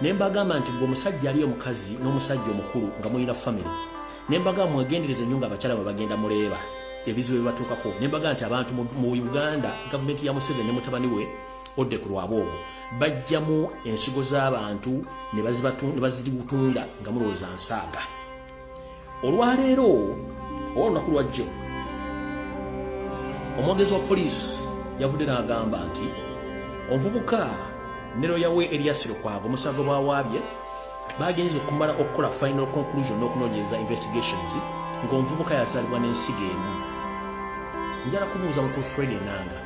ne mbagamba nti gwe omusajja aliyo mukazi n'omusajja omukulu nga mulina famire ne mbagamba mwegendereze nnyo nga abakyala bwe bagenda muleeba ebizibu ebibatuukako ne mbagamba nti abantu mu uganda gavumenti ya museveni ne mutabani we odde ku lwabwe ogwo bajjamu ensigo z'abantu ne bazitunda nga mulowooza nsaaga olwaleero oba olunaku lwajjo omwogezi wa poliisi yavudde n'agamba nti omuvubuka nero yawe eryasiro kwaga omusango bwawaabye bagenza okumala okukola final conclusion n'okunoonyereza investigations ng'omuvubuka yazaalibwa n'ensigo emu njala kubuuza mukulu fred enanga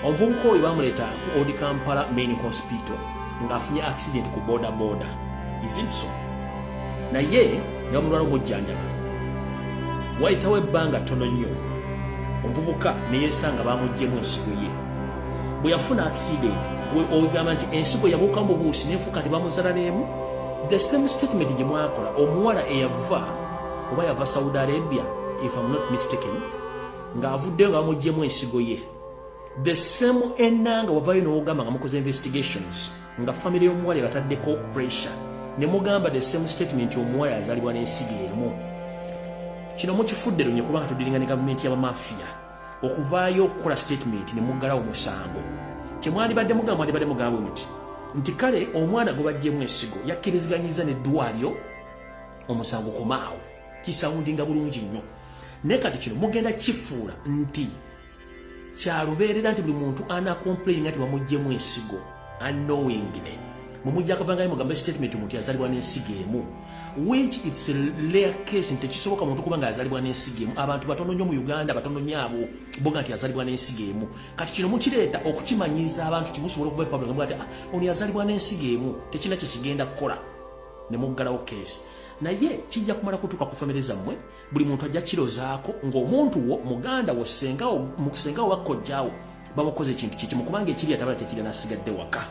omuvubuka oyo bamuleeta ku old kampala main hospital ng'afunye accident ku boda boda isinso naye nga mulwala omujjanjaba wayitawo ebbanga ttono nnyo omuvubuka neyesanga bamuggyemu ensigo ye bwe yafuna accident ogamba nti ensigo yabuuka mu buusi nefuuka nti bamuzala n'emu the same statement gye mwakola omuwala eyava oba yava saudi arabia if am not mistaken ng'avuddeyo nga bamugyemu ensigo ye the same enanga wavayo nowogamba nga mukoze investigations nga family y'omuwala ebataddeko pressure ne mugamba the same statement omuwala yazalibwa n'ensigo emu kino mukifudde lunye kubanga tudiringa ne gavumenti y'abamafiya okuvaayo okukola statement ne muggalawo omusango kyemwandibadde mugamba mwandibadde mugambwe muti nti kale omwana gwe bajjemu ensigo yakkiriziganyiza ne ddwalyo omusango komaawo kisawundinga bulungi nnyo naye kati kino mugenda kifuula nti kyalubeerera nti buli muntu ana complaininga nti bamugjemu ensigo unknowingly mumujja akavangayo mugambe statement omuntu yazalibwa n'ensigo emu which its lair case nti tekisoboka muntu kuba nga yazalibwa n'ensigo emu abantu batono nnyo mu uganda batono nnyo abo boga nti yazalibwa n'ensigo emu kati kino mukireeta okukimanyiiza abantu kimusobola okuba epabulangamu ati ah, ono yazalibwa n'ensigo emu tekina kye kigenda kukola ne muggalawo keesi naye kijja kumala kutuuka ku famire zammwe buli muntu ajja kirozaako ng'omuntu wo muganda wo sengawo sengawo wakkojjaawo babakoze ekintu kyekimu kubanga ekiri atabala tekirina asigadde waka